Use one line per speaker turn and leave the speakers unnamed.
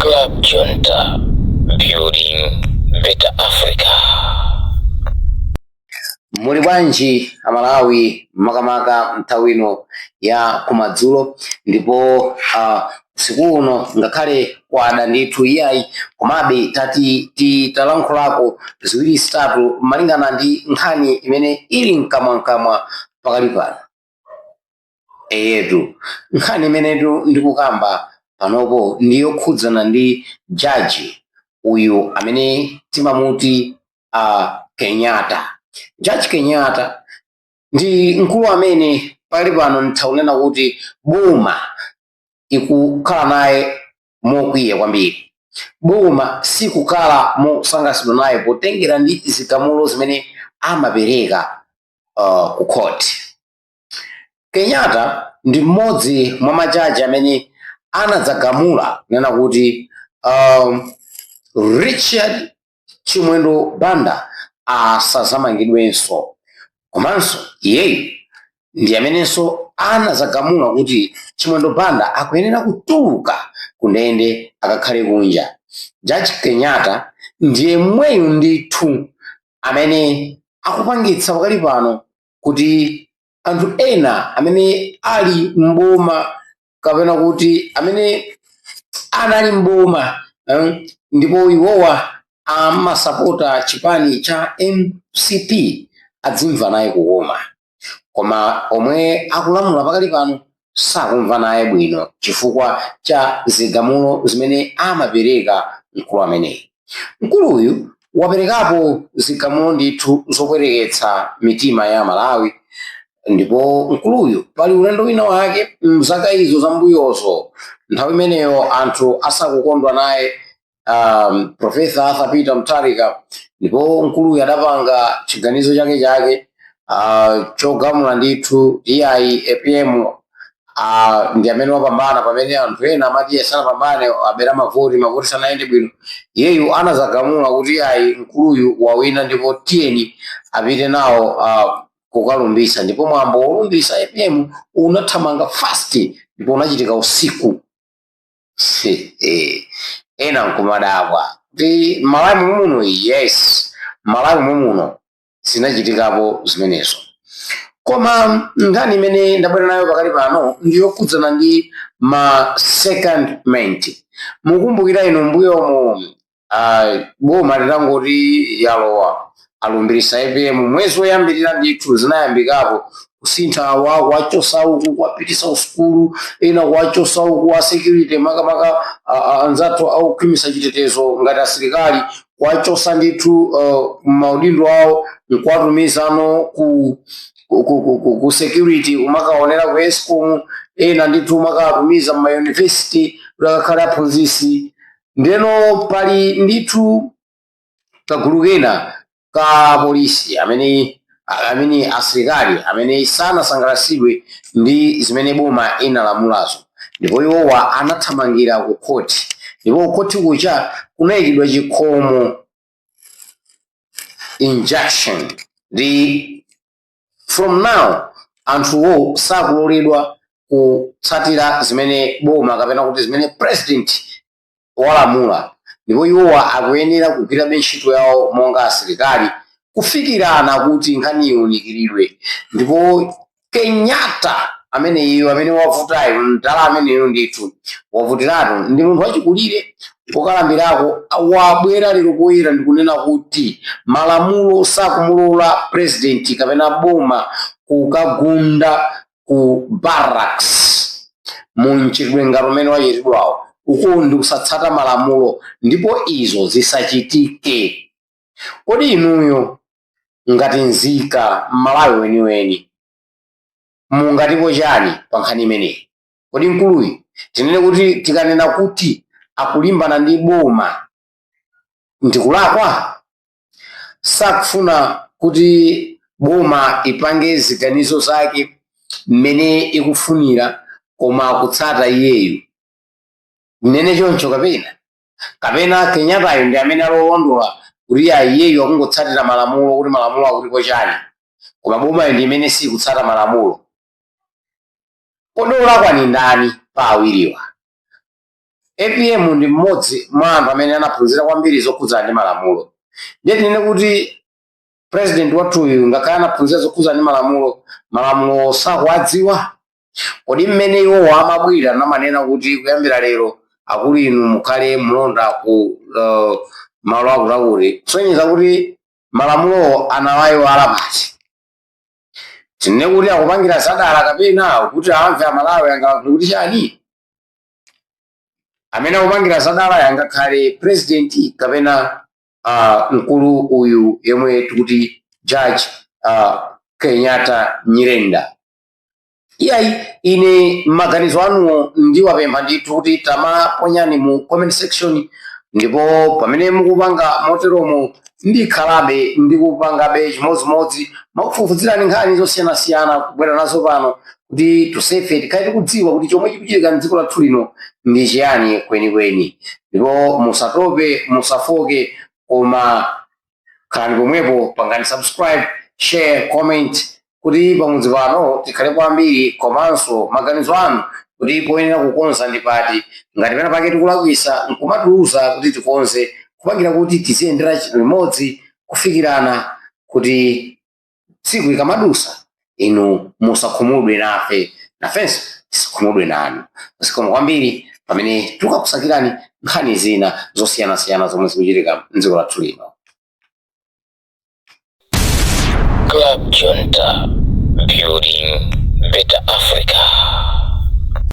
Club Junta, building better Africa.
muli bwanji amalawi makamaka nthawi ino ya kumadzulo ndipo uh, usiku uno ngakhale kwada ndithu iyayi komabe tati titalankhulako ziwiri zitatu malingana ndi nkhani imene ili mkamwamkamwa pakali pano eyetu nkhani imenetu ndikukamba panopo ndi yokhudzana ndi jaji uyu amene timamuti uh, kenyatta jaji kenyatta ndi mkulu amene pali pano nditha kunena kuti boma ikukhala naye mokwiya kwambiri boma sikukhala mosangalatsidwa naye potengera ndi zigamulo zimene amapereka uh, ku court kenyatta ndi mmodzi mwa majaji amene anadzagamula kunena kuti um, richard chimwendo banda asazamangidwenso komanso iyeyu ndi amenenso anadzagamula kuti chimwendo banda akuyenera kutuluka kundende akakhale kunja jaji kenyatta ndi yemweyu ndithu amene akupangitsa pakali pano kuti anthu ena amene ali mboma kapena kuti amene anali mboma eh, ndipo iwowa amasapota chipani cha mcp adzimva naye kukoma koma omwe akulamula pakali pano sakumva naye bwino chifukwa cha zigamulo zimene amapereka mkulu ameneyi mkuluyu waperekapo zigamulo ndithu zopweteketsa mitima ya amalawi ndipo mkuluyu pali ulendo wina wake mzaka izo zambuyozo nthawi imeneyo anthu asakukondwa naye um, Profesa Arthur Peter Mutharika ndipo mkuluyu adapanga chiganizo chake chake uh, chogamula ndithu iyayi apm Ah, ndi amene wapambana pamene anthu ena amati sanapambane abera mavoti mavoti sanayende bwino iyeyu anazagamula kuti iyayi mkuluyu wawina ndipo tiyeni apite nawo ah, kukalumbiritsa ndipo mwambo wolumbiritsa apm unathamanga fast ndipo unachitika usiku ena nkumadabwa kuti malawi mumuno yes malawi mumuno zinachitikapo zimenezo koma nkhani imene ndabwera nayo pakali pano ndiyokhudzana ndi ma secondment mukumbukira inu mbuyomo ah, boma litangoti yalowa alumbirisa apm mwezi woyambirira ndithu zinayambikapo kusintha kwa kuwachosa uku kuwapitisa kusukulu ena kuwachosa uku a security makamaka ah, ah, anzathu okhwimisa chitetezo ngati asilikali kuwachosa ndithu uh, mmaudindo awo nkuwatumizano ku ku, ku, ku, ku, ku security umakaonera ku escom ena ndithu kumakawatumiza mmayunivesity kuti akakhale aphunzisi ndiyeno pali ndithu kagulu kena ka polisi amene amene asilikali amene sanasangalatsidwe ndi zimene boma inalamulazo ndipo iwowa anathamangira ku khoti ndipo kukhoti kuja kunayikidwa chikhomo injunction ndi from now anthuwo sakuloledwa kutsatira zimene boma kapena kuti zimene president walamula ndipo iwowa akuyenera kugwirabe ntchito yawo monga asilikali kufikirano kuti nkhani iwunikiridwe ndipo kenyatta ameneyo amene wavutayo mdala ameneyo ndithu wavutiratu ndi munthu wachikulire pokalambirako wabwera lero poyera ndikunena kuti malamulo sakumulora president kapena boma kukagunda ku barracks mu mchitidwe ngati umene wachitidwawo uku ndi kusatsata malamulo ndipo izo zisachitike kodi inuyo ngati nzika m'malawi weniweni mungatipo chani pa nkhani imeneyi kodi mkuluyu tinene kuti tikanena kuti akulimbana ndi boma ndikulakwa sakufuna kuti boma ipange ziganizo zake mmene ikufunira koma akutsata iyeyu tinene choncho kapena kapena kenyatayo ndi amene ali olondola kuti ya iyeyu akungotsatira malamulo kuti malamulo akutipo chani koma bomayo ndi imene sikutsata malamulo Kodi olakwa ndi ndani pa awiriwa? Apm ndi mmodzi mwa anthu amene anaphunzira kwambiri zokhudzana ndi malamulo. Ndiye tinene kuti president wathuyu ngakhale anaphunzira zokhudzana ndi malamulo, malamulowo sakuwadziwa? Kodi mmene iwowo amabwera namanena kuti kuyambira lero akulu inu mukhale mlonda ku uh, malo akutiakuti kusonyeza kuti malamulowo anawayiwala kapena? tinene kuti akupangira zadala kapena kuti amve amalawi angalankhule kuti chani amene akupangira zadala angakhale president kapena uh, mkulu uyu yemwe tikuti judge uh, kenyatta nyirenda iyayi ine maganizo anuwo ndiwapempha ndithu kuti tamaponyani mu comment section ndipo pamene mukupanga moteromo ndikhalabe ndikupangabe chimodzimodzi mokufufuzirani nkhani zosiyanasiyana kubwera nazo pano kuti tonsefe tikhale tikudziwa kuti chomwe chikuchitika mdziko lathu lino ndi chiyani kwenikweni ndipo musatope musafooke koma khalani pomwepo pangani subscribe share comment kuti pamudzi pano tikhalepo ambiri komanso maganizo anu kuti poyenera kukonza ndi pati ngati pena pake tikulakwisa nkumatiuza kuti tikonze kupangira kuti tiziyendera limodzi kufikirana kuti tsiku likamadutsa inu musakhumudwe nafe nafenso tisakhumudwe nanu zikomo kwambiri pamene tikukusakirani nkhani zina zosiyanasiyana zomwe zikuchitika mdziko lathu
lino Club Junta, building better Africa.